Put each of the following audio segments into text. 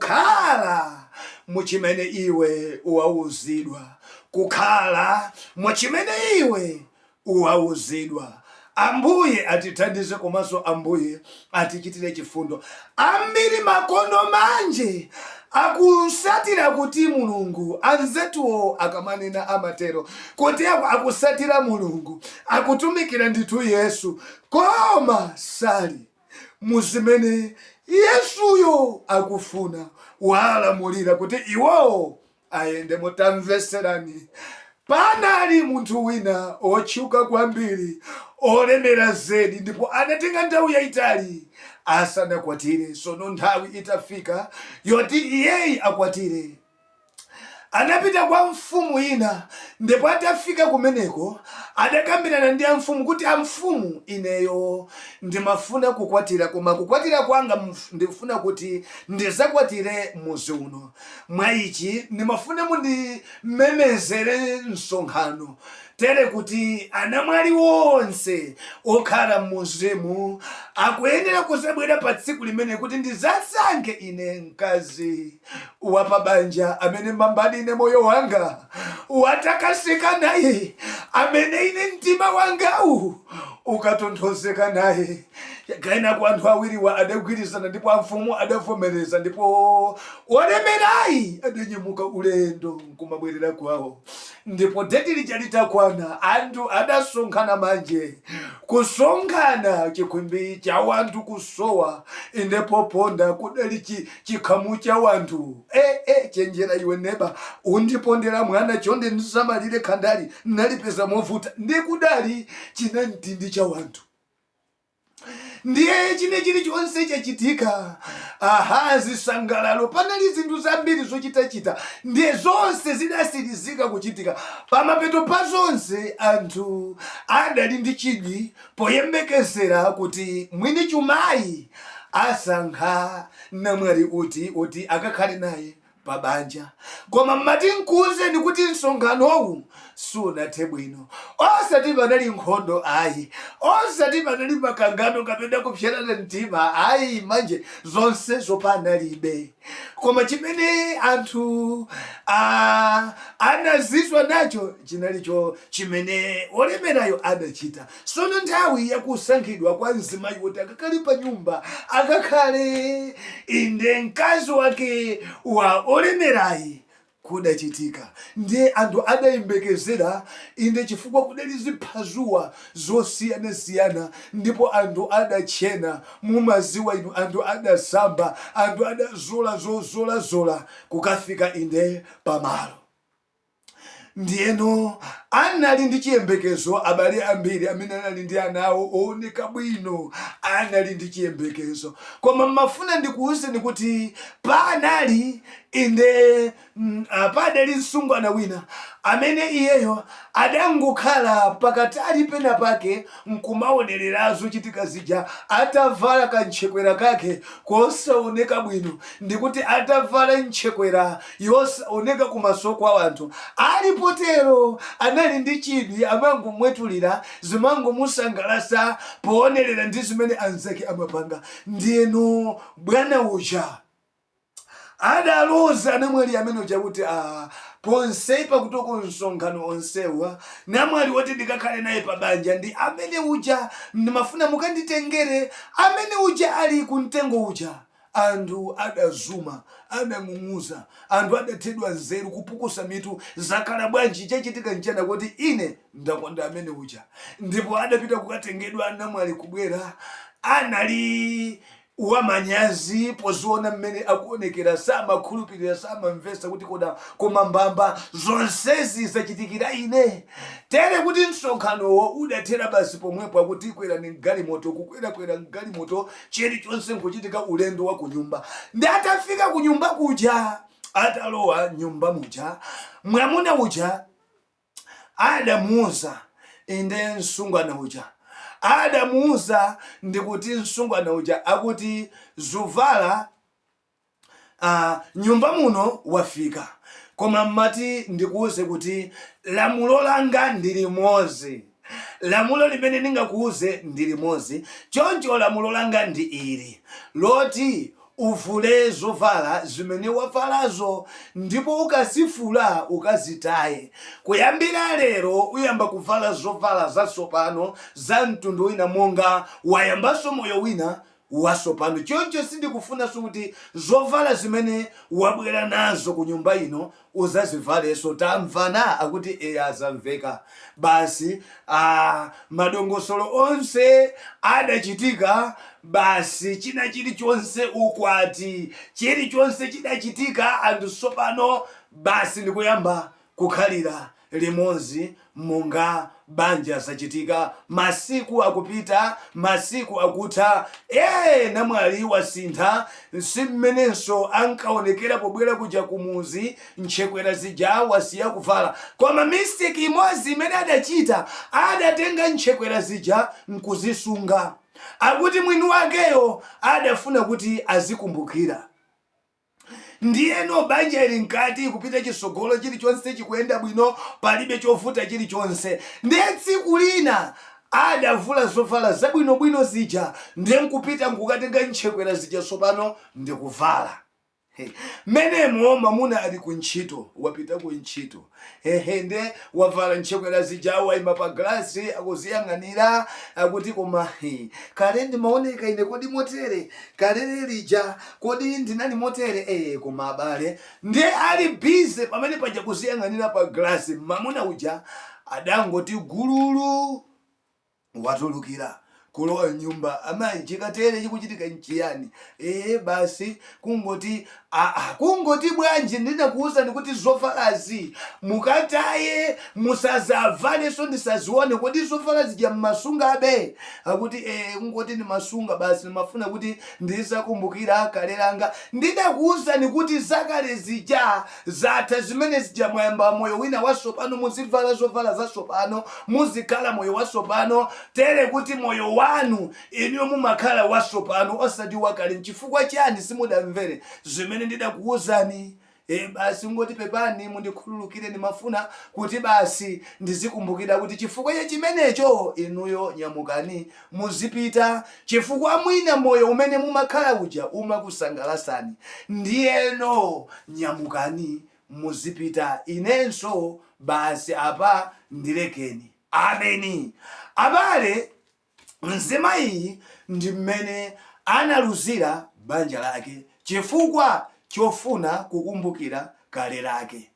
Kukhala mu chimene iwe wauzidwa. Kukhala mu chimene iwe wauzidwa. Ambuye atithandize komanso Ambuye atichitire chifundo. Ambiri makono manje akusatira kuti Mulungu, anzathuwo akamanena amatero, kuti akusatira Mulungu, akutumikira ndithu Yesu, koma sali. mu zimene Yesuyo akufuna walamulira kuti iwowo ayendemo. Tamvetserani, Panali munthu wina wotchuka kwambiri, wolemera zedi, ndipo anatenga nthawi yaitali asanakwatire. Tsono nthawi itafika yoti iyeyi akwatire, anapita kwa mfumu ina, ndipo atafika kumeneko adakambirana ndi amfumu kuti, Amfumu, ineyo ndimafuna kukwatira, koma kukwatira kwanga ndifuna kuti ndizakwatire muzi uno. Mwa ichi ndimafuna mundimemezere msonkhano, tere kuti anamwali onse okhala m'muzimu akuyenera kuzabwera pa tsiku limene kuti ndizasankhe ine mkazi. wapabanja amene mbambadi ine moyo wanga utakaseka naye amene ine mtima wangawu ukatonthozeka naye Kenaka anthu awiriwa adagwirizana ndipo amfumu adavomereza ndipo olemerayi adanyamuka ulendo nkumabwerera kwawo ndipo deti lija litakwana anthu adasonkhana manje kusonkhana chikhwimbi cha wanthu kusowa inde poponda kudali chikhamu cha wanthu eh eh chenjera iwe neba undipondera mwana chonde ndisamalire khandali nalipeza movuta ndikudali chinamtindi cha wanthu ndiye china chilichonse chachitika aha zisangalalo panali zinthu zambiri zochitachita ndiye zonse zidasirizika kuchitika pamapeto pa zonse anthu adali ndi chidwi Poyembekezera kuti mwini chumayi asankha namwali uti woti akakhale naye pa banja koma mmati nkuuzeni kuti msonkhanowu sunathe bwino osati panali nkhondo ayi osati panali makangano kapena kupsetsana mtima ayi manje zonsezo panalibe. Koma chimene anthu adazizwa nacho chinali chochimene wolemerayo adachita. Sono nthawi ya kusankhidwa kwa mzimayi kuti akakhale pa nyumba, akakhale, inde, mkazi wake wa olemerayi, kudachitika. Ndiye anthu adayembekezera, inde chifukwa kudali ziphazuwa zosiyanasiyana ndipo anthu adatchena, mumadziwa inu, anthu adasamba, anthu adazola zozolazola kukafika inde pamalo. Ndiyeno anali ndi chiyembekezo, abale ambiri amene anali ndi ana awo ooneka bwino anali ndi chiyembekezo. Koma mmafuna ndikuuzeni kuti panali Inde, padali msungwana wina amene iyeyo adangokhala pakatali penapake n'kumaonerera zochitika zija atavala kantchekwera kake kosaoneka bwino. Ndikuti atavala ntchekwera yosaoneka kumaso kwa anthu. Ali potero anali ndi chidwi, amangomwetulira, zimangomusangalatsa poonerera ndi zimene anzake amapanga. Ndiyeno bwana uja. Adaloza anamwali amene uja kuti, A, ponse pakutoko msonkhano onsewa, namwali woti ndikakhale naye pabanja ndi amene uja. Ndimafuna mukanditengere amene uja ali kumtengo uja. Anthu adazuma, adang'ung'uza. Anthu adathedwa nzeru, kupukusa mitu. Zakhala bwanji? Chachitika nchiyani akuti, Ine ndakonda amene uja. Ndipo adapita kukatengedwa namwali kubwera. Anali wamanyazi poziona mmene akuonekera samakhulupirira samamvetsa kuti kodi koma mbamba zonsezi zachitikira ine tere kuti msonkhanowo udathera basi pomwepo akuti kwerani mgalimoto kukwerakwera mgalimoto chilichonse nkuchitika ulendo wa kunyumba ndiye atafika kunyumba kuja atalowa mnyumba muja mwamuna uja Adamuuza, inde, msungwana uja. Adamuuza ndi kuti msungwana uja akuti Zuvala a, mnyumba muno wafika. Koma mmati ndikuuze kuti lamulo langa ndi limodzi. Lamulo limene ndingakuuze ndi limodzi. Choncho lamulo langa ndi ili, loti, Uvule zovala zimene wavalazo, ndipo ukazivula ukazitaye. Kuyambira lero uyamba kuvala zovala zatsopano za mtundu wina monga wayambanso moyo wina watsopano, choncho sindikufunanso kuti zovala zimene wabwera nazo kunyumba ino udzazivalenso. Tamvana? Akuti, Eya, zamveka. Basi, ah, madongosolo onse adachitika, basi china chirichonse, ukwati, chirichonse chidachitika, anthu tsopano basi ndikuyamba kukhalira limodzi monga banja zachitika, masiku akupita, masiku akutha, ee namwali wasintha, si mmenenso ankaonekera pobwera kuja kumudzi, ntchekwera zija wasiya kuvala, koma mistake imodzi imene adachita adatenga ntchekwera zija nkuzisunga, akuti mwini wakeyo adafuna kuti azikumbukira. Ndiyeno banja ili mkati, kupita chitsogolo, chirichonse chikuyenda bwino, palibe chovuta chirichonse. Ndiye tsiku lina adavula zovala zabwinobwino zija, ndiye nkupita nkukatenga ntchekwera zija tsopano ndi kuvala. He! Mmenemo mwamuna ali kuntchito, wapita kuntchito. Hehe nde wavala ntchekwera zija waima pa galasi akuziyang'anira akuti koma hi kale ndimaoneka ine kodi motere kalele lija kodi ndinali motere ee koma abale nde ali busy pamene paja kuziyang'anira pa galasi mamuna uja adangoti gululu watulukira kulowa mnyumba. Amayi, chikatere chikuchitika nchiyani? Ee, basi kungoti, a, a, kungoti bwanji ndinakuwuzani kuti zovalazi mukataye, musadzavalenso, ndisadzione. Kodi zovala zija mumasungabe? Akuti, Ee, kungoti ndimasunga basi, ndimafuna kuti ndizidzakumbukira kale langa. Ndidakuwuzani kuti zakale zija Zatha zimene zija mwayamba moyo wina wasopano muzivala zovala zasopano muzikhala moyo wasopano tere kuti moyo wanu inuyo mumakhala wasopano osati wakale nchifukwa chani simudamvere zimene ndidakuuzani ee basi kungoti pepani mundikhululukire ndimafuna kuti basi ndizikumbukira kuti chifukwa cha chimenecho inuyo nyamukani Muzipita chifukwa mwina moyo umene mumakhala uja umakusangalasani ndiyeno nyamukani muzipita inenso basi apa ndilekeni. Ameni. Abale, mzimayiyi ndi mmene analuzira banja lake chifukwa chofuna kukumbukira kale lake.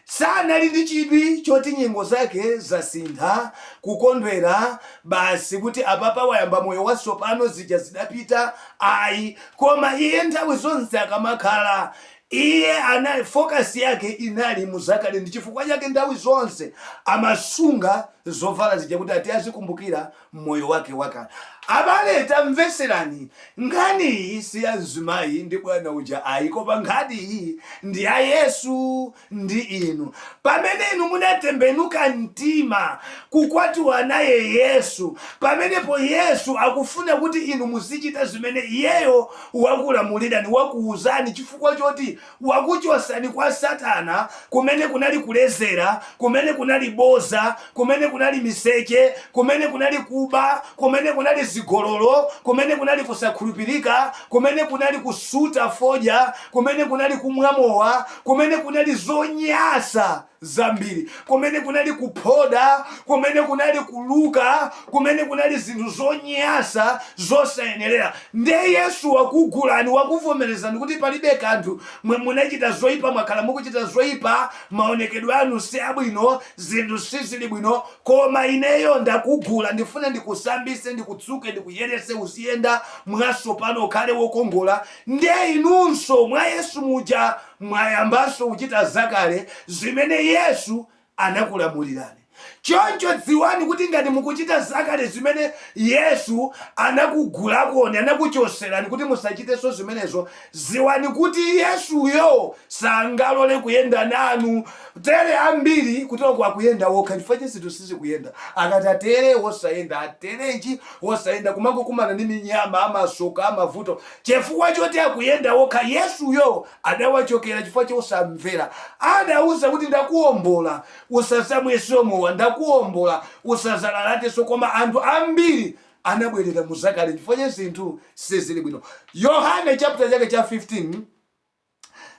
sanali ndi chidwi choti nyengo zake zasintha, kukondwera basi kuti apapa wayamba moyo watsopano zija zidapita ayi koma iye nthawi zonse akamakhala iye anali focus yake inali muzakale ndi chifukwa chake nthawi zonse amasunga zovala zija kuti ati azikumbukira moyo wake wakale. Abale tamvetserani nkhani iyi si ya mzimayi ndi bwana uja ayi koma nkhani iyi ndi ya Yesu ndi inu. Pamene inu munatembenuka mtima kukwatiwa naye Yesu, pamenepo Yesu akufuna kuti inu muzichita zimene iyeyo wakulamulirani, wakuuzani chifukwa choti wakuchosani kwa satana kumene kunali kulezera, kumene kunali boza, kumene kunali miseche, kumene kunali kuba, kumene kunali zigololo, kumene kunali kusakhulupirika, kumene kunali kusuta foja, kumene kunali kumwa mowa, kumene kunali zonyasa. zambiri, kumene kunali kuphoda, kumene kunali kuluka, kumene kunali zinthu zonyasa zosayenerera. Nde Yesu wakugulani, wakuvomerezani kuti palibe kanthu, mwe munachita zoipa, mwakhala mukuchita zoipa, maonekedwe anu si abwino, zinthu sizili bwino, koma ineyo ndakugula, ndifuna ndikusambise, ndikutsuke, ndikuyerese, uziyenda mwasopano, ukhale wokongola. Nde inunso mwa Yesu muja. Mwayambanso kuchita zakale zimene Yesu anakulamulirani. Choncho dziwani kuti ngati mukuchita zakale zimene Yesu anakugulakoni, anakuchoserani kuti musachiteso zimenezo, dziwani kuti Yesuyo sangalole kuyenda nanu. Tere ambiri kuteroko akuyenda okha ndi chifukwa chake zinthu sizikuyenda. Akati atere, wosayenda, atere chi, wosayenda, kumangokumana ndi minyama, amasoka, amavuto, Chifukwa choti akuyenda okha, Yesuyo adawachokera chifukwa chosamvera. Adawauza kuti, Ndakuwombola, usazamweso mowa. Ndakuwombola, usazalalateso. Koma anthu ambiri anabwerera mu zakale chifukwa chake zinthu sizili bwino. Yohane chaputala chake cha 15.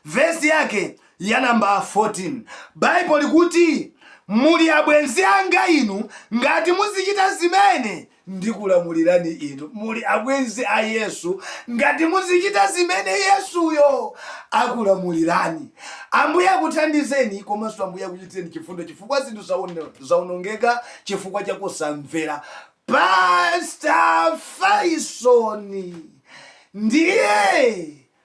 vesi yake ya namba 14. Baibo likuti, Muli abwenzi anga inu ngati muzichita zimene ndikulamulirani inu. Muli abwenzi a Yesu ngati muzichita zimene Yesuyo akulamulirani. Ambuye akuthandizeni komanso Ambuye akuchitireni chifundo chifukwa zinthu zaonongeka chifukwa cha kusamvera. Pasta Fayisoni ndiye